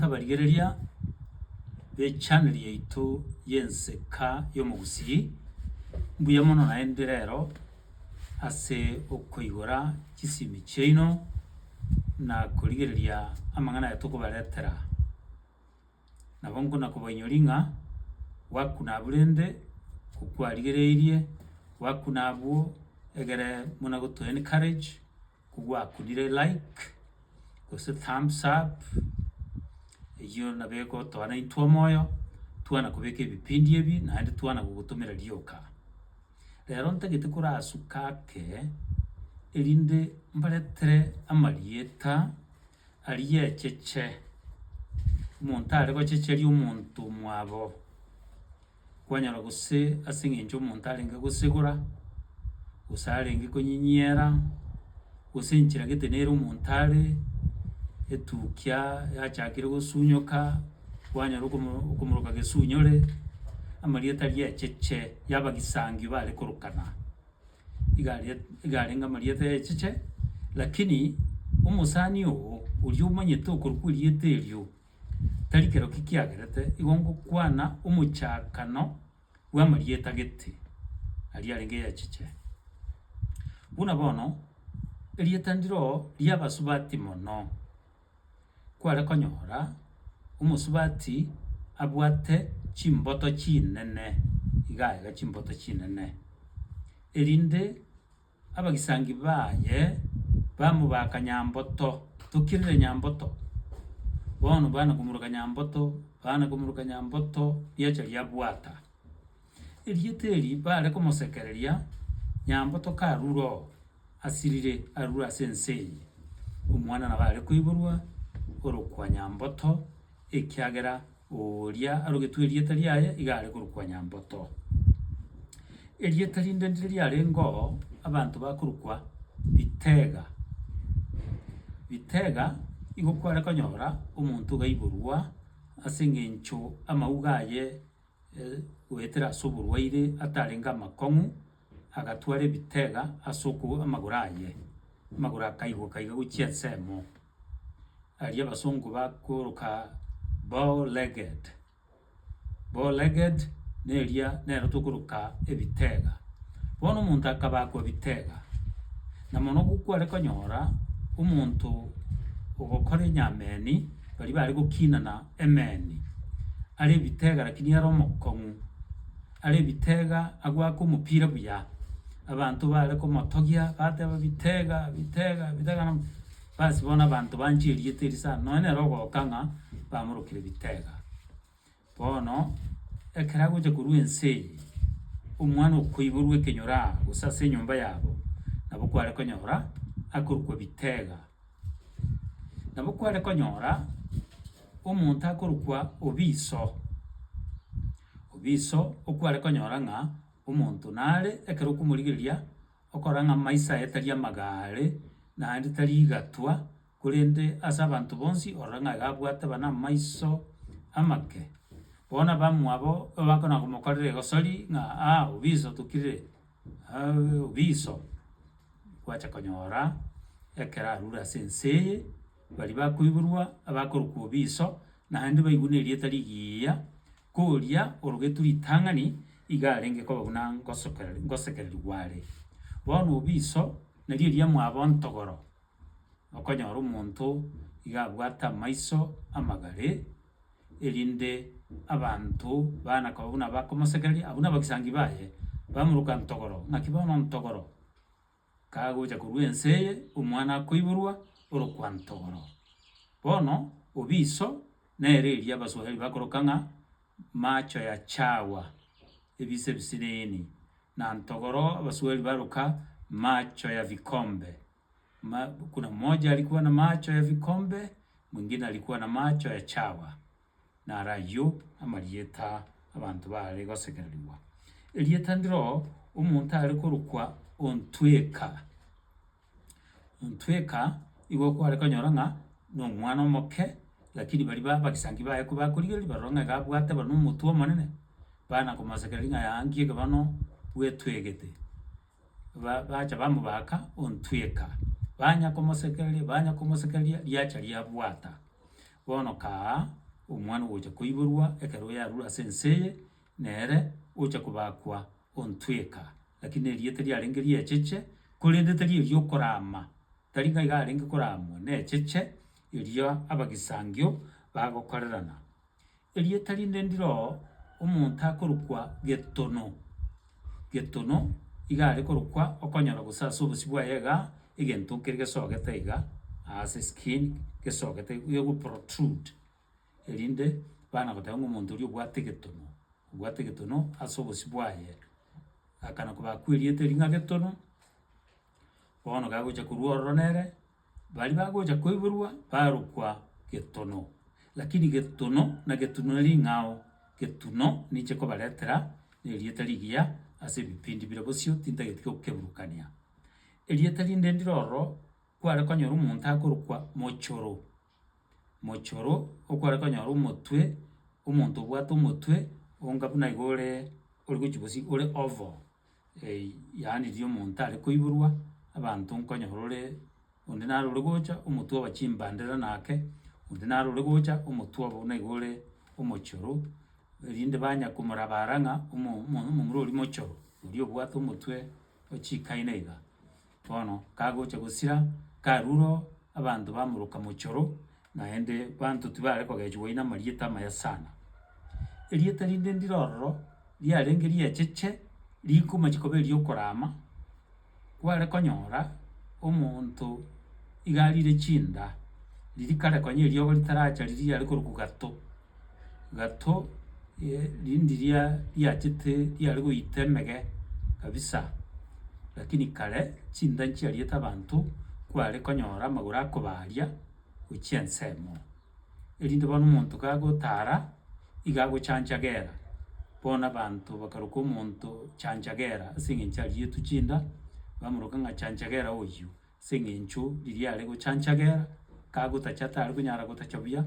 Abarigereria bechaneli yaito y'enseka y'omogusii, mbuya mono naende rero ase okoigora chisimi chiaino na korigereria amang'ana aya tokobaretera. Nabo nkona kobainyoria ng'a gwakuna abwo rende okwarigereirie, gwakuna abwo egere buna gotoa encourage. Kogwakurire like gose thumbs up eyio nabo egotoa naintwe omoyo twana kobeka ebipindi ebi naende twana gogotomera rioka. Rero ntagete korasuka ake erinde mbaretere amarieta ariecheche, omonto are gochecheria omonto omwabo, kwanyora gose ase eng'encho omonto arenge gosigora, gose arenge konyinyiera, gose enchera gete nere omonto are, etukia yachakire gosunyoka, kwanyora okomo okomoroka gesunyore, amarieta riecheche y'abagisangio bare korokana. iga aria iga arenge amarieta y'echiche, lakini omosani oo oria omanyete okorwa kw'erieta erio, tari kero ki kiagerete igo ngokwana omochakano bw'amarieta gete aria arenge y'echiche. Buna bono, erieta ndiro ri'abasubati mono. kware konyora omosubati abwate chimboto chinene, iga iga chimboto chinene, erinde abagisangi baye bamobaka nyamboto, tokirire nyamboto, bono bana komoruka nyamboto, bana komoruka nyamboto, riacha riabwata. Erieta eri baare komosekereria nyambo tokarure oo asirire arure ase ense eye. Omwana nabo are koiborwa orokwa Nyamboto, ekiagera oria arogetwe erieta riaye iga are korokwa Nyamboto. Erieta rinde ndire riarenge oo abanto bakorokwa Bitega. Bitega igo kware konyora omonto oga aiborwa ase eng'encho amauga aye. goetera ase oborwaire atarenge amakong'u, agatwara ebitega ase oko amagoro aye, amagoro akaigwa kaiga gochia ensemo. Aria abasongo bakoroka bow legged, bow legged na eria nero tokoroka ebitega. Bono omonto akabakwa ebitega, na mono kware konyora omonto ogokora enyameni, baria bare gokinana Emeni, are ebitega lakini are omokong'u, are ebitega agoaka omopira buya, abanto bare komotogia bateba bitega bitega bitega nabo, bas bono abanto banchire erieta erio sana, nonye nere ogoka ng'a bamorokire bitega. Bono ekero agocha korwa ense eye, omwana okoiborwa ekenyoro aa gose ase enyomba yabo, nabo kware konyora akorokwa bitega. Nabo kware konyora omonto akorokwa Obiso. Obiso okware konyora ng'a omonto nare ekero okomorigereria okora ng'a amaiso aye tari amagaare, naende tari igatwa, korende ase abanto bonsi orore ng'a iga abwate buna amaiso amake. Bono abamwabo abakona komokorera egosori ng'a aa Obiso tokirire, Abiso gwacha konyora ekero arure ase ense eye, baria bakoiborwa abakorokwa Obiso, naende baigwe na erieta rigiya, koria orogetwe ritang'ani, iga arenge koba buna ngosokera ngosekererigwa are. Bono Obiso, nario eria mwabo ntogoro, okonyora omonto iga abwate amaiso amagare. erinde abanto baane koba buna abakomosegeria, abwo nabagisangi baye, bamoroka ntogoro, ng'aki bono ntogoro kagocha korwa ense eye, omwana akoiborwa orokwa ntogoro. Bono obiso nere erio abaswahiri bakoroka ng'a macho ya chawa, ebiso ebisiniini, na ntogoro abaswahiri baroka macho ya vikombe. buna mocha alikuwa na macho ya vikombe, mwingine alikuwa na macho ya chawa, naro ayio amarieta abanto baare gosekererigwa. Erieta ndiro omonto are korokwa ontweka, ontweka igo kware konyora ng'a na omwana omoke, rakini baria ba abagisangi baye kobakorigereria baroro ng'a iga abwate barabwo omotwe omonene, bana komosekereria ng'a yaya nki ekebano bwetwegete. bacha bamobaaka ontweka, banya komosekereria, banya komosekereria, riacha riabwata. Bono kaa omwana ogocha koiborwa ekero yarure ase ense eye, nere ocha kobakwa ontweka, rakini erio tiriarenge riecheche, korende teri erio okorama, tari ng'aiga arenge koramwa, necheche erio abagisangio bagokorerana. Erieta rinde ndiroo omonto akorokwa Getono, Getono iga are korokwa okonyora gose ase obosio bwaye iga egento kere gesogete iga ase skin gesogete ego protrude erinde bana goteba ng'a omonto oria obwate Getono, obwate Getono ase obosio bwaye. Akana kobakwa erieta erio ng'a Getono, bono gagocha korwa ororo nere. Baria bagocha koiborwa barokwa getono, lakini getono na getuno ne ring'ao, getuno ninche nkobaretera erieta rigiya ase ebipindi bire bosio tintageti gokeburukania. Erieta rinde ndire ororo kware konyora omonto akorokwa Mochoro. Mochoro okware konyora omotwe, omonto obwate omotwe onga buna iga ore ori gochia gosii ore oval, yaani riria omonto are koiborwa abanto nkonyora ore onde naro ore gocha omotwe obe chimbandera na ake, onde naro ore gocha omotwe obe buna iga ore omochoro, erinde banya komorabara ng'a omo- omo- omomura oria mochoro, oria obwate omotwe ochikaine iga. Bono kagocha gosira, karure oo, abanto bamoroka mochoro, naende banto tibare kogechigwa oyio namarieta amaya sana. Erieta rinde ndire ororo, riarenge riacheche, rikomachi koba eriokorama, kware konyora omonto iga arire chinda, riria kare konya eriogo ritaraacha riria riare korokwa gato. gato rindi riachete riare goita emege kabisa, rakini kare chinda nchiariete abanto kware konyora amagoro akobaria gochia ensemo, erinde bono omonto kagotara iga agochancha gera, bono abanto bakaroka omonto chancha gera ase eng'encho arietwe chinda, bamoroka ng'a chancha gera oyio. Ase eng'encho riria are gochancha gera, kagotacha tare konyara gotacha buya,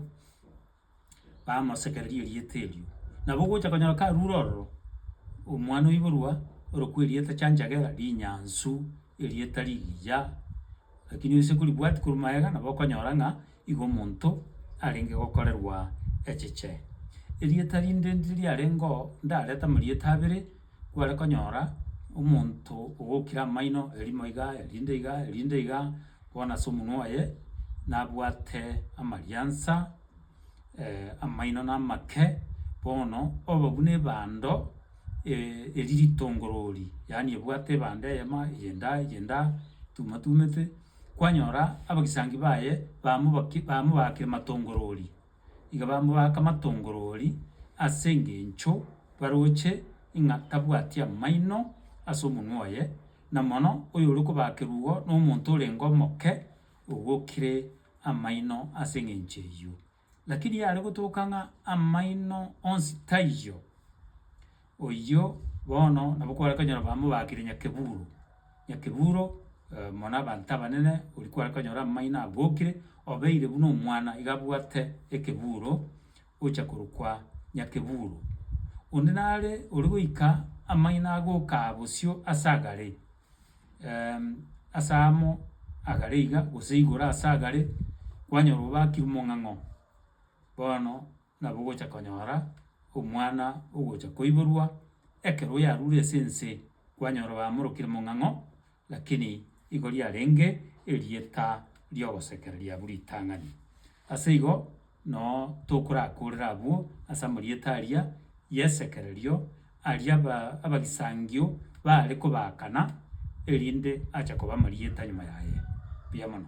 bamosekereria erieta erio. Nabo ogocha konyora karure ororo, omwana oiborwa orokwa erieta chancha gera, rinyansu, erieta rigiya, lakini gose koribwati korwa magega, nabo okonyora ng'a Igo omonto arenge gokorerwa echeche. Erieta rinde ndiri riarengo ndarete amarieta abere, kware konyora omonto ogokire amaino erimo iga erinde iga erinde iga bono ase omonwa oye nabwate amariansa amaino na amake bono obe buna ebando eri ritongorori yaani ebwate ebando eyemo eye enda eye enda etumatumete. Kwanyora abagisangi baye bamobaki bamobaakire matongorori, iga bamobaaka matongorori ase engencho baroche ing'a tabwati amaino ase omonwa oye, na mono oyore kobaakerwa igo nomonto orenge omoke ogokire amaino ase engencho eyio. Lakini yare gotoka ng'a amaino onsi taiyo, oyio bono nabo kware konyora bambe baakire Nyakeburo. Nyakeburo oyomo na abanto abanene oria kware konyora amaino abokire, obeire buna omwana iga abwate ekeburo ocha korokwa Nyakeburo. Onde nare ore goika amaino agokaa bosio ase agare. ase amo agare iga, gose igoro ase agare, kwanyora obakire omong'ang'o, bono nabo ogocha konyora omwana ogocha koiborwa ekero oyarure ase ense, kwanyora bamorokire mong'ang'o, lakini igo riarenge erieta riogosekereria abwo ritang'ani. Ase igo noo tokorakorera abwo ase amarieta aria y'esekererio, aria aba abagisangio baare kobaakana, erinde ache koba amarieta nyuma yaye. Mbuya mono.